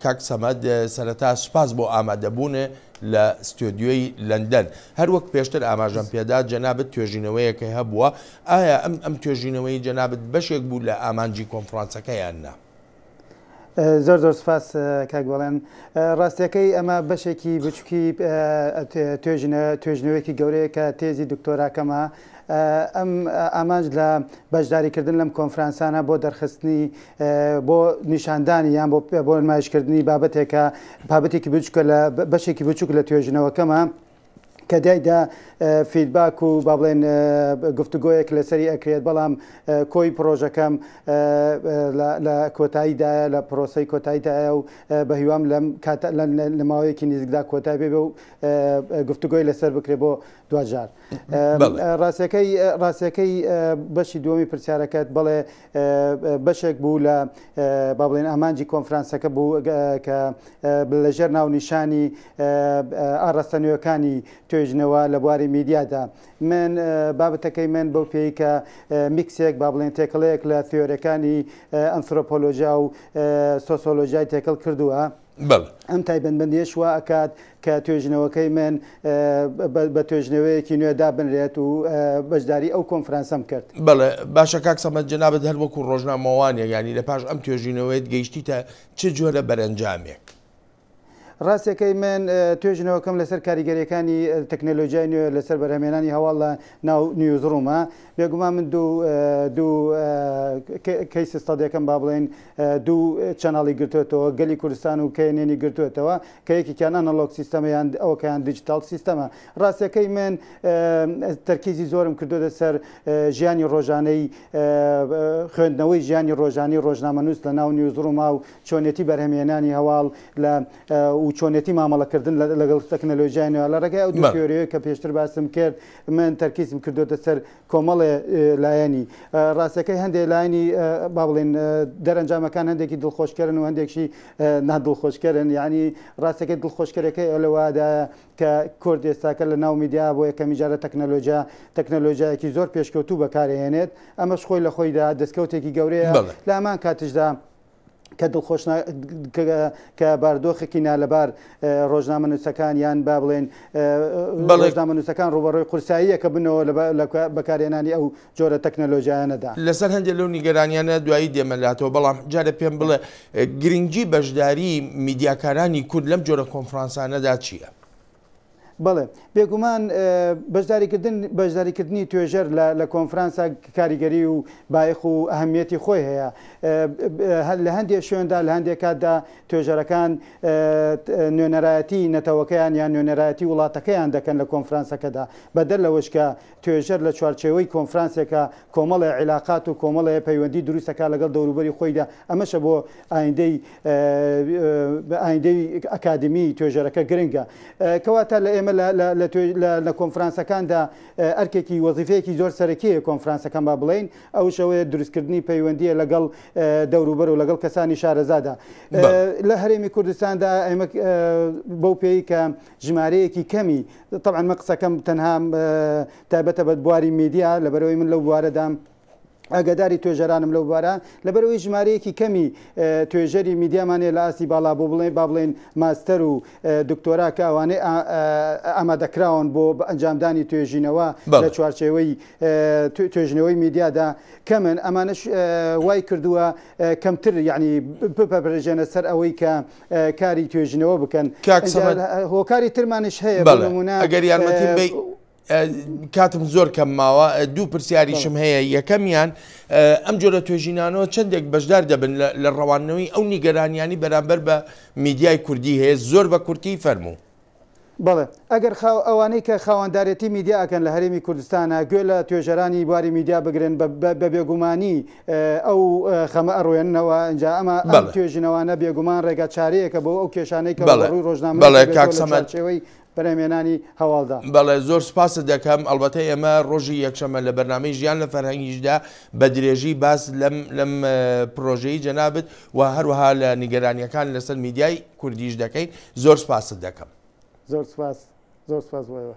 کاک سەمەد سەرەتا سوپاس بۆ ئامادەبوون لە ستۆدیۆی لەندەن هەروەک پێشتر ئاماژەم پێدا جەنابەت توێژینەوەیەکەی هەبووە ئایا ئەم ئەم توێژینەوەی جەنابەت بەشێک بوو لە ئامانجی کۆنفرانسەکەیان نا زۆر زۆر سپاس کاک بەڵێن ڕاستیەکەی ئەمە بەشێکی بچووکی توێژنە توێژنەوەیەکی گەورەیە کە تێزی دکتۆراکەمە ئەم ئامانج لە بەشداریکردن لەم کۆنفرانسانە بۆ دەرخستنی بۆ نیشاندانی یان بۆ بۆ نمایشکردنی بابەتێکە بابەتێکی بچکە لە بەشێکی بچوک لە توێژنەوەکەمە کە دایدا فیدباک و با بڵێن گفتوگۆیەک لەسەری ئەکرێت بەڵام کۆی پرۆژەکەم لە کۆتاییدایە لە پرۆسی کۆتاییدایە و بە هیوام لەم لە ماوەیەکی نزیکدا کۆتای بێ و گفتوگۆی لەسەر بکرێت بۆ دوجار. ڕاستەکەی بەشی دووەمی پرسیارەکەت بڵێ بەشێک بوو لە با بڵێن ئامانجی کۆنفرانسەکە بوو کە لەژێر ناونیشانی ئاڕاستە نوێەکانی توێژنەوە لە بواری میدیادا من بابەتەکەی من بەو پێی کە میکسێک با بڵێن تێکڵەیەک لە تیۆرەکانی ئەنسۆپۆلۆژیا و سۆسۆلۆژای تێکەڵ کردووە بەڵێ. ئەم تایبەتمەندییەش وا ئەکات کە توێژینەوەکەی من بە توێژینەوەیەکی نوێ دابنرێت و بەشداری ئەو کۆنفرانسەم کرد. بەڵێ، باشە کاک سەمەد جەنابت هەر وەکوو ڕۆژنامەوانێک یانی لە پاش ئەم توێژینەوەیەت گەیشتیتە چ جۆرە بەرەنجامێک؟ ڕاستەکەی من توێژینەوەکەم لەسەر کاریگەرییەکانی تەکنەلۆجیای نوێ لەسەر بەرهەمهێنانی هەواڵ لە ناو نیوزڕوومە بێگومان من دوو دوو کەیس ستەدێکەم با بڵێین دوو چەناڵی گرتوێتەوە گەلی کوردستان و کەێنێنی گرتوێتەوە کە یەکێکیان ئەنەلۆک سیستەمە یان ئەوکەیان دیجیتال سیستەمە ڕاستەکەی من تەرکیزی زۆرم کردوێتە سەر ژیانی ڕۆژانەی خوێندنەوەی ژیانی ڕۆژانی ڕۆژنامەنووس لە ناو نیوزڕووما و چۆنێتی بەرهەمهێنانی هەواڵ لە و چۆنێتی مامەڵەکردن لەگەڵ تەکنەلۆژیای نوێ لە ڕێگای ئەو دوو تیۆریەیە کە پێشتر باسم کرد من تەرکیزم کردوێتە سەر کۆمەڵێ لایەنی ڕاستەکەی هەندێک لایەنی با بڵێن دەرەنجامەکان هەندێکی دڵخۆشکەرن و هەندێکشی نادڵخۆشکەرن یعنی ڕاستەکەی دڵخۆشکەرەکەی ئەو لەوادا کە کورد ئێستاکە لە ناو میدیا بۆ یەکەمی جارە تەکنەلۆژیا تەکنەلۆژیایەکی زۆر پێشکەوتوو بەکارهێنێت ئەمەش خۆی لە خۆیدا دەستکەوتێکی گەورەیە لە هەمان کاتشدا کە دڵخۆش کە باردۆخێکی نالەبار ڕۆژنامە نووسەکان یان با بڵێن بەڵێژنامە نووسەکان ڕوبەڕۆی قورساییەکە بنەوە لە بەکارێنانی ئەو جۆرە تەکنەلۆژیانەدا لەسەر هەندێک لەو نیگەرانیانە دوایی دێمەلاتەوە بەڵام جارە پێم بڵێ گرنگجی بەشداری میدیاکارانی کورد لەم جۆرە کۆنفرانسانەدا چییە؟ بەڵێ، بێگومان بەشداریکردن بەشداریکردنی توێژەر لە لە کۆنفرانسا کاریگەری و بایەخ و ئەهەمیەتی خۆی هەیە لە هەندێک شوێندا لە هەندێک کاتدا توێژەرەکان نوێنەرایەتی نەتەوەکەیان یان نوێنەرایەتی وڵاتەکەیان دەکەن لە کۆنفرانسەکەدا بەدەر لەوەش کە توێژەر لە چوارچێوەی کۆنفرانسێکە کۆمەڵێ عیلاقات و کۆمەڵێ پەیوەندی دروستەکە لەگەڵ دەوروبەری خۆیدا ئەمەشە بۆ ئایندەی ئایندەی ئەکادمی توێژەرەکە گرنگە. کەواتە لە ئێمە لە کۆنفرانسەکاندا ئەرکێکی وەزیفەیەکی زۆر سەرەکیە کۆنفرانسەکان با بڵێین ئەوش ئەوەیە دروستکردنی پەیوەندیە لەگەڵ دەوروبەر و لەگەڵ کەسانی شارەزادا لە هەرێمی کوردستاندا ئەمە بەو پێی کە ژمارەیەکی کەمی طبعا مە قسەکەم تەنها تایبەتە بە بواری میدیا لەبەرەوەی من لەو بوارەدام ئاگاداری توێژەرانم لەو بارە لەبەرەوەی ژمارەیەکی کەمی توێژەری میدیامانێ لە ئاستی باڵا بۆ بڵێ با بڵێن ماستەر و دکتۆرا کە ئەوانەی ئامادەکراون بۆ بە ئەنجامدانی توێژینەوە لە چوارچێوەی توێژنەوەی میدیادا کەمن ئەمانش وای کردووە کەمتر یعنی بپەپرژێنە سەر ئەوەی کە کاری توێژنەوە بکەن هۆکاری ترمانش هەیە بەڵمونە ئەگەر یارمەتی کاتم زۆر کەم ماوە دوو پرسیاریشم هەیە یەکەمیان ئەم جۆرە توێژینانەوە چندێک بەشدار دەبن لە ڕەوانەوەی ئەو نیگەرانیانی بەرامبەر بە میدیای کوردی هەیە زۆر بە کورتی فەرموو. بەڵێ ئەگەر خاو ئەوانەی کە خاواندارێتی میدیا ئەکەن لە هەرێمی کوردستانە گوێ لە توێژەرانی بواری میدیا بگرن بە بێگومانی ئەو خەمە ئەڕوێننەوە ئەجا ئەمە توێژینەوانە بێگومان ڕێگا چارەیەەکە بۆ ئەو کێشانەی کە بەڵێ ڕۆژنامەڵێ کاکسەمەچەوەی بەرهەمێنانی هەواڵدا. بەڵێ زۆر سپاست دەکەم، ئەڵبەتە ئێمە ڕۆژی یەکشەمە لە بەرنامەی ژیان لە فەرهەنگیشدا بە درێژی باس لەم لەم پرۆژەی جەنابت و هەروەها لە نیگەرانیەکان لەسەر میدیای کوردیش دەکەین زۆر سپاست دەکەم. زۆر سپاس زۆر سپاس بۆ ئێوە.